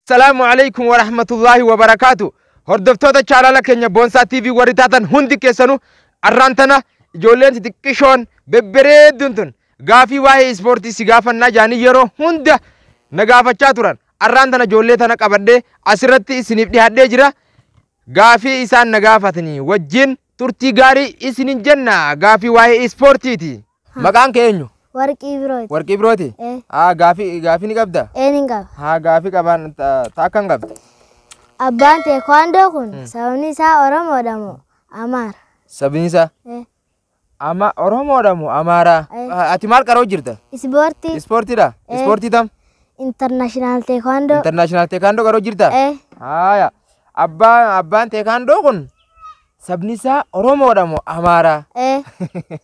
Salaamu alaikum wa rahmatullahi wa barakaatu. Hordoftoota chaanala keenya Boonsaa TV warri taatan hundi keessanuu arraan tana ijoolleen xixiqqishoon bebbereedduun tun gaafii waa'ee ispoortii si gaafannaa jaanii yeroo hunda na gaafachaa turan. Arraan tana ijoollee tana qabadhee asirratti isiniif dhihaadhee jira. Gaafii isaan na gaafatanii wajjin turtii gaarii isinin jenna gaafii waa'ee ispoortiiti. Maqaan kee eenyu? Warqii birooti. Warqii birooti? Ee. Haa gaafii gaafii ni qabda? Ee ni qaba. Haa gaafii qabaan taakka hin qabda. Abbaan teekwaandoo kun sababni isaa Oromoodha moo Amaara? Sabni isaa? Ee. Ama Oromoodha moo Amaaraa? Ee. Ati maal qaroo jirta? Ispoortii Ispoortiidha? Ee. Ispoortii tam? intarnaashinaal teekwaandoo. Intarnaashinaal teekaandoo qaroo jirta? Ee. Haaya. Abbaan abbaan teekaandoo kun sabni isaa Oromoodha moo Amaaraa? Ee.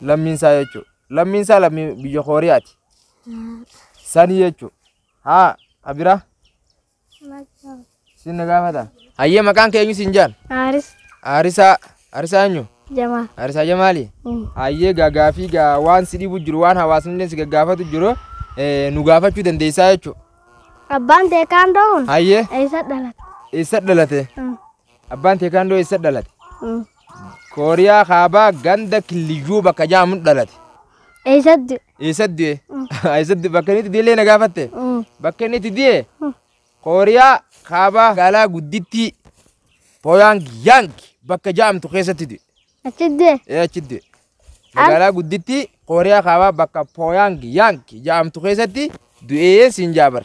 lammiin isaa jechuudha. Lammiin isaa lammii biyya Kooriyaati. Sanii jechuudha. Haa, Abira, siin na gaafata. Hayyee maqaan kee eenyu siin jaan? Aaris Aarisaa, Aarisaa eenyu? Jamaa. Aarisaa Jamaali? Hayyee gaagaa fi gaa waan si dhibu jiru, waan hawaasni illee si gaggaafatu jiru eh, nu gaafachuu dandeessaa jechuudha. Abbaan teekaandoo kun Hayyee eessa dhalate? eessa dhalate? Abbaan teekaandoo eessa dhalate? Kooriyaa kaabaa ganda killiyyuu bakka jaamun dhalate. Eessatti? Eessatti du'e? Eessatti bakka inni itti du'ellee na gaafatte? Bakka inni itti du'e Kooriyaa kaabaa magaalaa guddittii Pooyaang Yaang bakka jaamtu keessatti du'e. Achitti du'e. Ee achitti du'e. Magaalaa guddittii Kooriyaa Kaabaa bakka Pooyaang Yaang jedhamtu keessatti du'ee siin jaabar.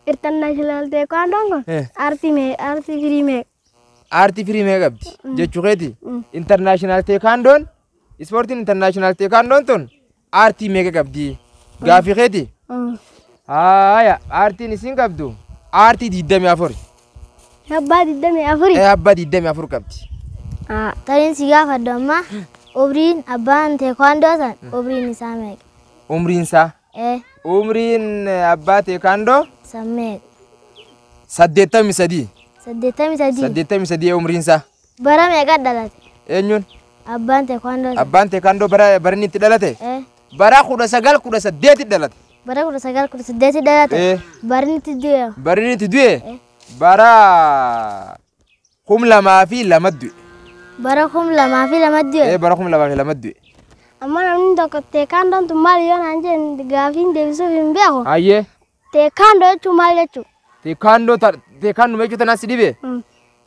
International Taekwondo kun Eh. aartii mee aartii firii mee. Aartii firii mee qabdi jechuu keeti. Mm. Internaashinaal Teekaandoon ispoortiin internaashinaal Teekaandoon tun Aartii meeqa qabdi? Gaaffii keeti? Haaya, aartiin isin qabdu aartii 24. Abbaa 24. Ee abbaa 24 qabdi. Tariin si gaafadhu amma umriin abbaan teekwaandoo san umriin isaa meeqa? Umriin isaa? Ee Umriin abbaa teekaandoo san meeqa? 83. 83. 83 umriin isaa. Bara meeqa dhalate? Eenyuun? Abbaan teekwaandoo sun. Abbaan teekwaandoo bara barinni itti dhalate? Eh, Bara kudha sagal kudha saddeeti dhalate. Bara kudha sagal kudha saddeeti dhalate. Eh. Barinni itti du'e. Barinni itti du'e? Eh. Bara kum lamaa fi lama du'e. Bara kum lamaa fi lama Eh, du'e. bara kum lamaa fi lama du'e. Amma namni tokko teekwaandoon tun maal yoo naan jedhe gaafiin deebisuuf hin beeku. Hayyee. Teekkaandoo jechuun maal jechuudha? Teekkaandoo ta- teekkaanduma jechuun tanaa si dhibe Mm.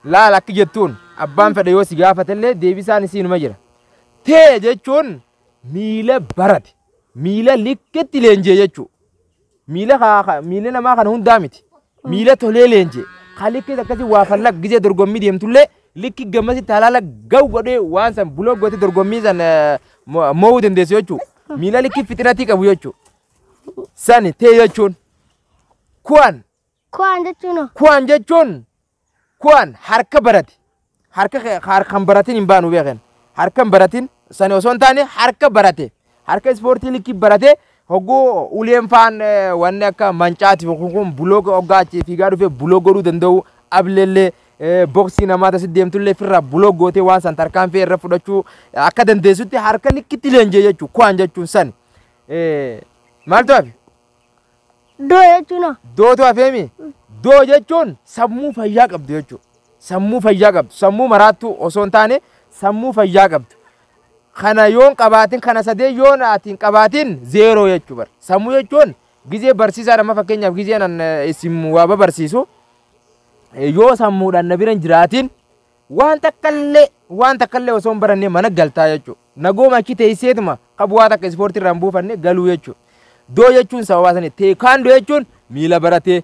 laala akki jettuun abbaan fedhe yoo si gaafatellee deebisaan isiinuma jira. Tee jechuun miila barate miila likkitti leenjee jechuudha. Miila haa- haa- miila namaa kana hundaa miti. Miila tolee leenjee haa likkitti akkasii waa fallaq gisee dorgommii deemtullee likki gammasitti halaala ga'u godhee waan san buloo gootee dorgommii san eh, mo- mo'uu dandeessu jechuudha. Miila likki fixinatii qabu jechuudha. Sani tee jechuun kuwaan Kuwaan jechuun hoo? kuwaan jechuun kuwaan harka barati. Harka kee- harkan baratin hin baanu beeken. Harkan baratin sani osoo hin taane harka barate. Harka ispoortii likkii barate hogguu uleen faan eh, wanni akka mancaati kun kun bulooga hoggaa achi fiigaa dhufee buloo godhuu danda'u ableellee eh, boksii namaa tasi deemtullee firraa buloo gootee waan san tarkaanfii irra fudhachuu akka dandeessutti harka likkitti leenjee jechuudha. Kuwaan jechuun sani. Maaltu hafe? Doo jechuun hoo? Dootu hafeemi. Doo jechuun sammuu fayyaa qabdu jechuudha. Sammuu fayyaa qabdu. Sammuu maraattuu osoo hin taane sammuu fayyaa qabdu. Kana yoon qabaatin kana sadee yoon ati hin qabaatin zeeroo jechuu bar. Sammuu jechuun gizee barsiisaadha amma fakkeenyaaf gizeen an eh, isin waa babarsiisu eh, yoo sammuudhaan na bira hin jiraatin Waan takkallee waan takkallee osoo hin barannee mana galtaa jechuudha. Nagooma achi teesseetuma ka bu'aa takka ispoortii irraa hin buufanne galuu jechuudha. Doo jechuun sababaa sanii teekaandoo jechuun miila baratee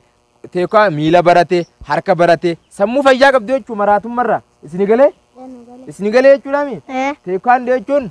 teekaa miila baratee harka baratee sammuu fayyaa qabdu jechuudha maraatummarraa isini galee isini galee jechuudhaami. Ee. Teekaandoo jechuun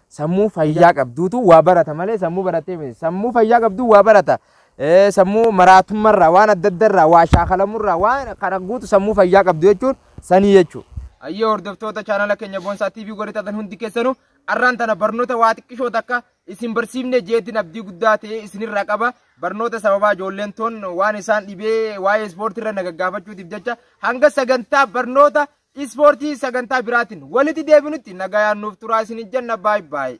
Sammuu fayyaa qabduutu waa barata malee sammuu barattee miti. Sammuu fayyaa qabduu waa barata. Eh, Sammuu maraatummarraa waan adda addarraa waa shaakalamurraa waan kana guutu sammuu fayyaa qabdu jechuun sanii jechuudha. Ayyee hordoftoota chaanala keenya Boonsaa TV warri taatan hundi keessanuu arraan tana barnoota waa xiqqishoo takka isin barsiifne jeetiin abdii guddaa ta'e isinirraa qaba. Barnoota sababaa ijoolleen toon waan isaan dhibee waa'ee ispoortii irra nagagaafachuutiif jecha hanga sagantaa barnoota Ispoortii sagantaa biraatiin walitti deebinutti nagayaan nuuf turaa isin jenna baay baay.